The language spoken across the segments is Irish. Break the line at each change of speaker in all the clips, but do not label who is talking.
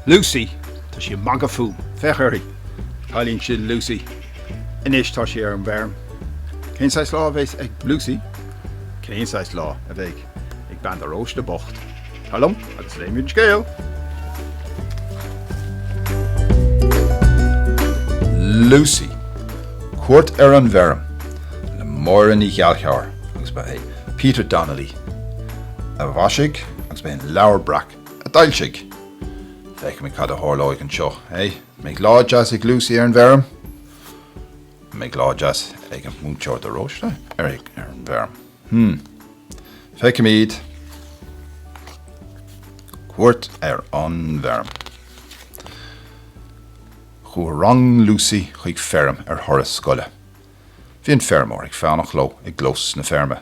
Lucy, tá sí ag magadh fúm. Féach uirthi. Cailín sin Lucy. Anois tá sí ar an bhfeirm. Cén saghas lá a bheidh ag Lucy? Cén saghas lá a bheidh? ag bean de Róiste bocht. Tar liom agus léimid an scéal! Lucy, Cuairt ar an bhFeirm, le Máire Ní Ghallchobhair agus ba é Peter Donnelly a mhaisigh agus ba é an Leabhar Breac a d'fhoilsigh. Feicfimid cad a tharlóidh anseo, eh? An mbeidh lá deas ag Lucy ar an bhfeirm? An mbeidh lá deas ag an Múinteoir de Róiste ar an bhfeirm? Hmm. Feicimid cuairt ar an bhfeirm. Chuaigh rang Lucy chuig feirm ar thuras scoile. Bhí an feirmeoir ag fanacht leo i gclós na feirme.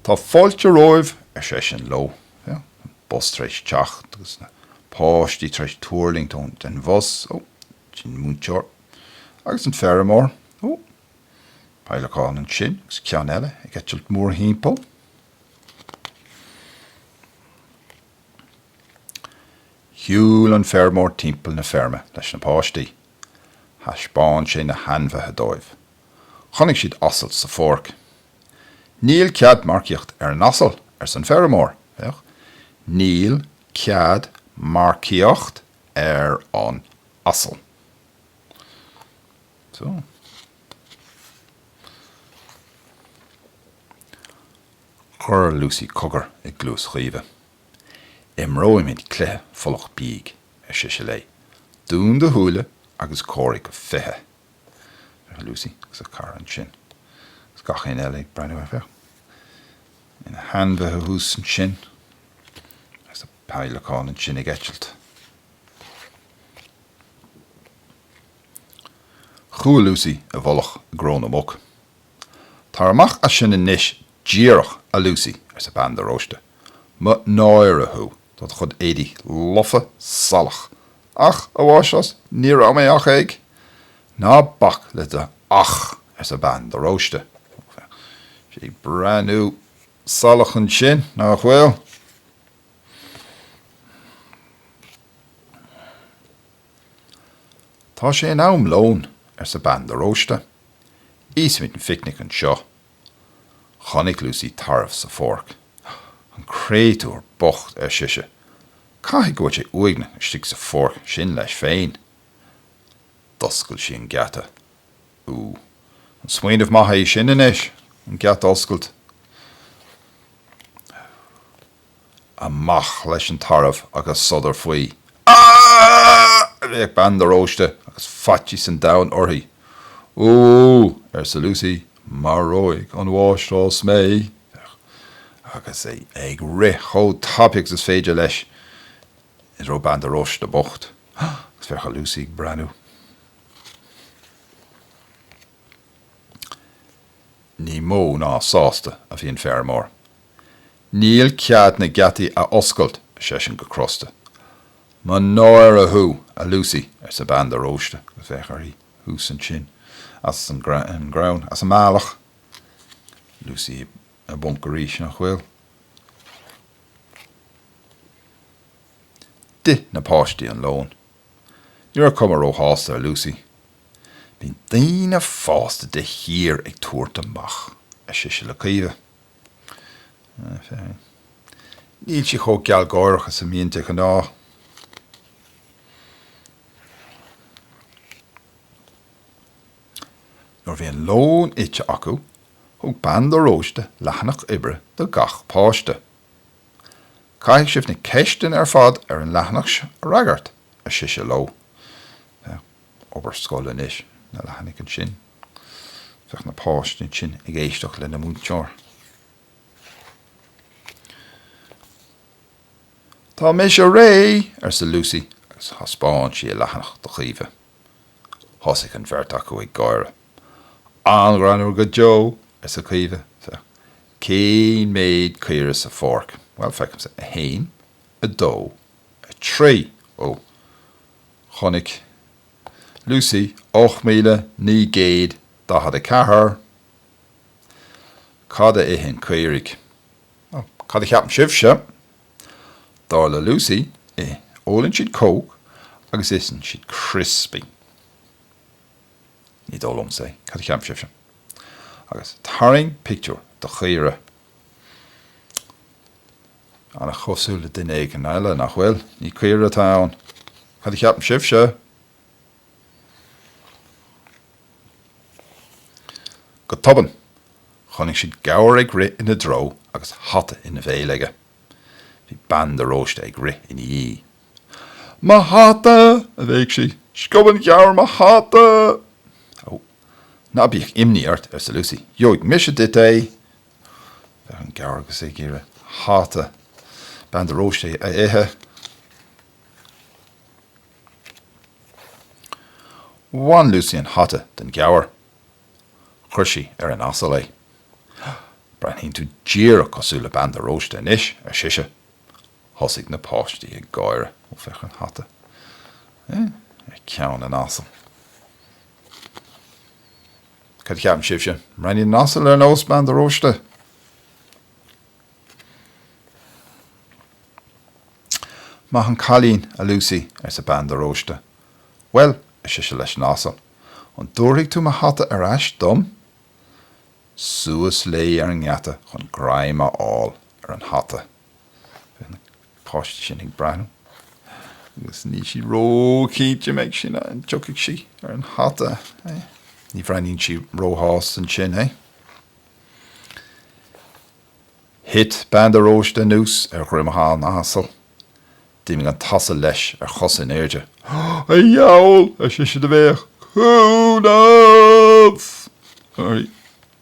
Tá fáilte romhaibh, ar seisean leo. Féach an bus tar éis teacht agus na páistí tar éis tuirlingt ón den bhus. Ó, sin múinteoir. Agus an feirmeoir. Ó. Peidhleacán ansin agus ceann eile ag eitilt mórthimpeall. Shiúil an feirmeoir timpeall na feirme leis na páistí. Thaispeáin sé na hainmhithe dóibh. Chonaic siad asal sa pháirc. Níl cead marcaíocht ar an asal, arsa an feirmeoir. Féach, Níl cead marcaíocht ar an asal. Chuir Lucy cogar i gcluas Chaoimhe. 'Imreoimid cluiche folach bíog, ar sise léi. 'Dún do shúile agus comhairigh go fiche! Bhí Lucy agus a cara ansin agus gach éinne eile ag breathnú ar, féach na hainmhithe thuas ansin agus na peidhleacáin ansin ag eitilt. Chuaigh Lucy i bhfolach i gcró na muc. 'Tar amach as sin anois díreach, a Lucy, arsa bean de Róiste. 'Mo náire thú, tá do chuid éadaí lofa salach! 'Ach, a Mháistreás, ní raibh mé ach ag. 'Ná bac le do ach, arsa bean de Róiste. 'Tá sí ag breathnú salach ansin, nach bhfuil? 'Tá sé in am lóin, arsa Bean de Róiste. 'Íosfaimid an phicnic anseo. Chonaic Lucy tarbh sa pháirc. 'An créatúr bocht, ar sise. 'Caithfidh go bhfuil sé uaigneach istigh sa pháirc sin leis féin. D'oscail sí an geata. 'Ú, an smaoineamh maith é sin anois, an geata a oscailt. Amach leis an tarbh agus sodar faoi. Aaaaaaaaaa! a bhéic Bean de Róiste agus faitíos an domhain uirthi. Úúú! arsa Lucy, maróidh an mháistreás mé! Féach! Agus é ag rith chomh tapaidh agus is féidir leis i dtreo Bean de Róiste bocht. Agus féach ar Lucy ag breathnú. Ní mó ná sásta a bhí an feirmeoir. 'Níl cead na geataí a oscailt, ar seisean go crosta. 'Mo náire thú, a Lucy, arsa Bean de Róiste agus féach uirthi thuas ansin as an gcrann as a mbealach. Lucy i bponc arís, 'Nach bhfuil? D'ith na páistí an lón. Ní raibh cuma róshásta ar Lucy. 'Bíonn daoine fásta de shíor ag tabhairt amach, ar sise le Caoimhe. Níl sí chomh gealgháireach is a bhíonn de ghnáth. Nuair a bhí an lón ite acu, thug Bean de Róiste leathanach oibre do gach páiste. Caithfidh sibh na ceisteanna ar fad ar an leathanach a fhreagairt, ar sise leo. obair scoile anois, na leathanaigh ansin. Féach na páistí ansin ag éisteacht leis an múinteoir. Tá mise réidh! arsa Lucy agus thaispeáin sí a leathanach do Chaoimhe. Thosaigh an bheirt acu ag gáire. An-ghreannmhar go deo! arsa Caoimhe. Féach, cén méid caora sa pháirc? Bhuel, feicimse. A haon, a dó, a trí. Ó! Chonaic Lucy 8944 Cad a itheann caoirigh? Nó cad a cheapann sibhse? Dar le Lucy, ith, ólann siad Coke agus itheann siad criospaí. Ní dóigh liomsa é. Cad a cheapann sibhse? Agus tarraing pictiúr de chaora. An-chosúil le duine éigin eile, nach bhfuil? Ní caora atá ann. Cad a cheapann sibhse? Go tobann, chonaic siad gabhar ag rith ina dtreo agus hata ina bhéal aige. Bhí bean de Róiste ag rith ina dhiaidh. Mo hata! a bhéic sí. Sciob an gabhar mo hata! Ó, ná bíodh imní ort, arsa Lucy. Gheobhaidh mise duit é! Féach an gabhar agus é ag iarraidh hata Bean de Róiste a ithe. Bhain Lucy an hata den ghabhar. Chuir sí ar an asal é. Breathnaíonn tú díreach cosúil le Bean de Róiste anois, ar sise. Thosaigh na páistí ag gáire. Ó, féach ar an hata. Ar cheann an asail. Cad a cheapann sibhse? An mbreathnaíonn an t-asal ar nós bean de Róiste? Maith an cailín, a Lucy, arsa bean de Róiste. Bhuel, ar sise leis an asal, an dtabharfaidh tú mo hata ar ais dom? Suas léi ar an ngeata chun greim a fháil ar an hata. Bhí na páistí sin ag breathnú agus níl siad ró-chinnte an mbeidh sí, an dtiocfaidh sí, ar an hata, eh? Ní bhreathnaíonn sí ró-shásta ansin, eh? Thit bean de Róiste anuas ar dhroim an asail. D'imigh an t-asal leis ar chosa in airde. A dheabhail, ar sise de bhéic, cúnamh!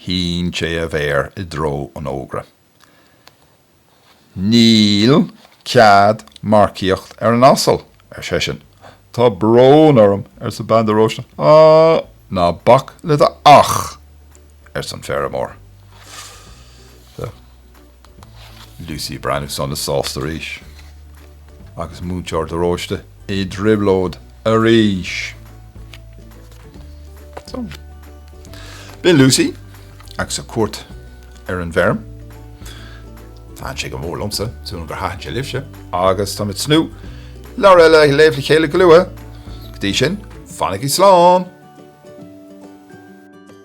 Shín sé a mhéar i dtreo an fhógra. Níl cead marcaíocht ar an asal, ar seisean. Tá brón orm, arsa bean de Róiste. Ná bac le do ach! arsa an feirmeoir. Lucy Breathnach sona sásta arís agus múinteoir de Róiste i dtrioblóid arís. So. B'in Lucy agus a cuairt ar an bhfeirm. Thaitin sé go mór liomsa, súil agam gur thaitin sé libhse, agus táim ag tnúth leabhar eile a léamh le chéile go luath. Go dtí sin, fanaigí slán!